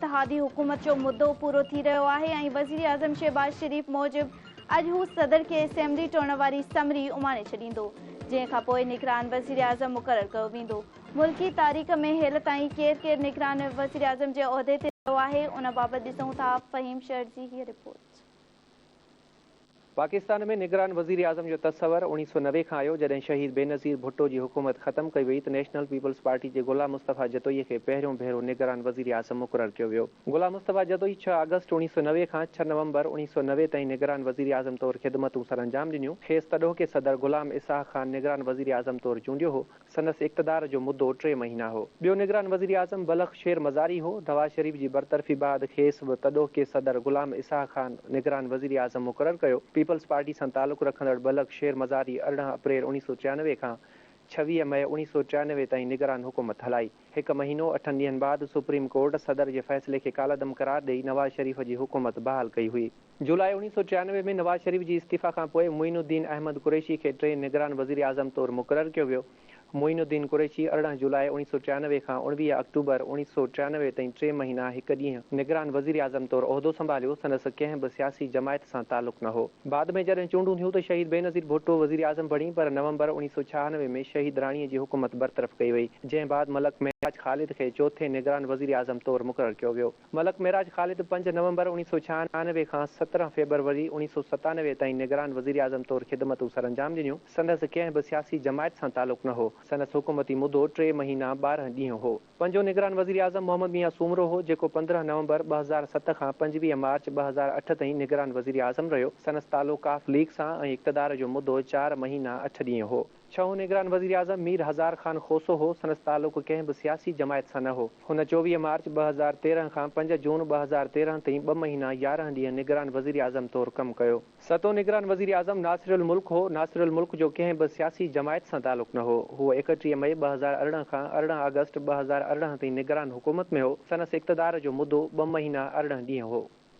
اتحادي حڪومت جو مدو پورو ٿي رهيو آهي ۽ وزيراعظم شهباز شريف موجب اڄ هو صدر کي اسيمبلي ٽوڙڻ واري سمري اماڻي ڇڏيندو جنهن کانپوء نگران وزيراعظم مقرر ڪيو ويندو ملڪي تاريخ ۾ هيل تائين ڪير ڪير نگران وزيراعظم جي عهدي تي رهيو آهي ان بابت ڏسون ٿا فهيم شرجي هي رپورٽ. پاڪستان ۾ نگران وزيراعظم جو تصور اوڻيهه سؤ نوي کان آيو، جڏهن شهيد بينظير ڀٽو جي حڪومت ختم ڪئي وئي ته نيشنل پيپلز پارٽي جي غلام مصطفيٰ جتوئي کي پهريون ڀيرو نگران وزيراعظم مقرر ڪيو ويو. غلام مصطفيٰ جتوئي ڇهه آگسٽ اوڻيهه سؤ نوي کان ڇهه نومبر اوڻيهه سؤ نوي تائين نگران وزيراعظم طور خدمتون سرانجام ڏنيون. کيس تڏهوڪي صدر غلام اسحاق خان نگران وزيراعظم طور چونڊيو هو. سندس اقتدار جو مدو ٽي مهينا هو. ٻيو نگران وزيراعظم بلخ شير مزاري هو. نواز شريف جي برطرفي بعد کيس به تڏهوڪي صدر غلام اسحاق خان نگران وزيراعظم مقرر ڪيو. پيپلز پارٽي سان تعلق رکندڙ بلخ شير مزاري ارڙهن اپريل اوڻيھ سؤ ٽيانوي کان ڇويھ مئي اوڻيھ سؤ ٽيانوي تائين نگران حڪومت هلائي. هڪ مهينو اٺن ڏينهن بعد سپريم ڪورٽ صدر جي فيصلي کي ڪالعدم قرار ڏئي نواز شريف جي حڪومت بحال ڪئي هئي. جولاء اوڻيهه سؤ ٽيانوي ۾ نواز شريف جي استعيفيٰ کان پوء معين الدين احمد قريشي کي ٽئين نگران وزيراعظم طور مقرر ڪيو ويو. معين الدين قريشي ارڙهن جولاء اوڻيهه سؤ ٽيانوي کان اوڻويهه آڪٽوبر اوڻيهه سؤ ٽيانوي تائين ٽي مهينا هڪ ڏينهن نگران وزيراعظم طور عهدو سنڀاليو، سندس ڪنهن به سياسي جماعت سان تعلق نه هو. بعد ۾ جڏهن چونڊون ٿيون ته شهيد بينظير ڀٽو وزيراعظم بڻي پر نومبر اوڻيهه سؤ ڇهانوي ۾ شهيد راڻي جي حڪومت برطرف ڪئي وئي، جنهن بعد ملڪ معراج خالد کي چوٿين نگران وزيراعظم طور مقرر ڪيو ويو. ملڪ معراج خالد پنج نومبر اوڻيھ سؤ ڇهانوي کان سترهن فيبروري اوڻيھ سؤ ستانوي تائين نگران وزيراعظم طور خدمتون سرانجام ڏنيون. سندس ڪنهن به سياسي جماعت سان تعلق نه هو. سندس حڪومتي مدو ٽي مهينا ٻارهن ڏينهن هو. پنجون نگران وزيراعظم محمد ميان سومرو هو، جيڪو پندرهن نومبر ٻه هزار ست کان پنجويهه مارچ ٻه هزار اٺ تائين نگران وزيراعظم رهيو. سندس تعلق ق ليگ سان ۽ اقتدار جو مدو چار مهينا اٺ ڏينهن هو. ڇهون نگران وزيراعظم مير هزار خان کوسو هو، سندس تعلق ڪنهن به سياسي جماعت سان نه هو. هن چوويهه مارچ ٻه هزار تيرهن کان پنج جون ٻه هزار تيرهن تائين ٻه مهينا يارهن ڏينهن نگران وزيراعظم طور ڪم ڪيو. ستون نگران وزيراعظم ناصر الملڪ هو، ناصر الملڪ جو ڪنهن به سياسي جماعت سان تعلق نه هو، هو ايڪٽيهه مئي ٻه هزار ارڙهن کان ارڙهن آگسٽ ٻه هزار ارڙهن تائين نگران حڪومت ۾ هو، سندس اقتدار جو مدو ٻه مهينا ارڙهن ڏينهن هو.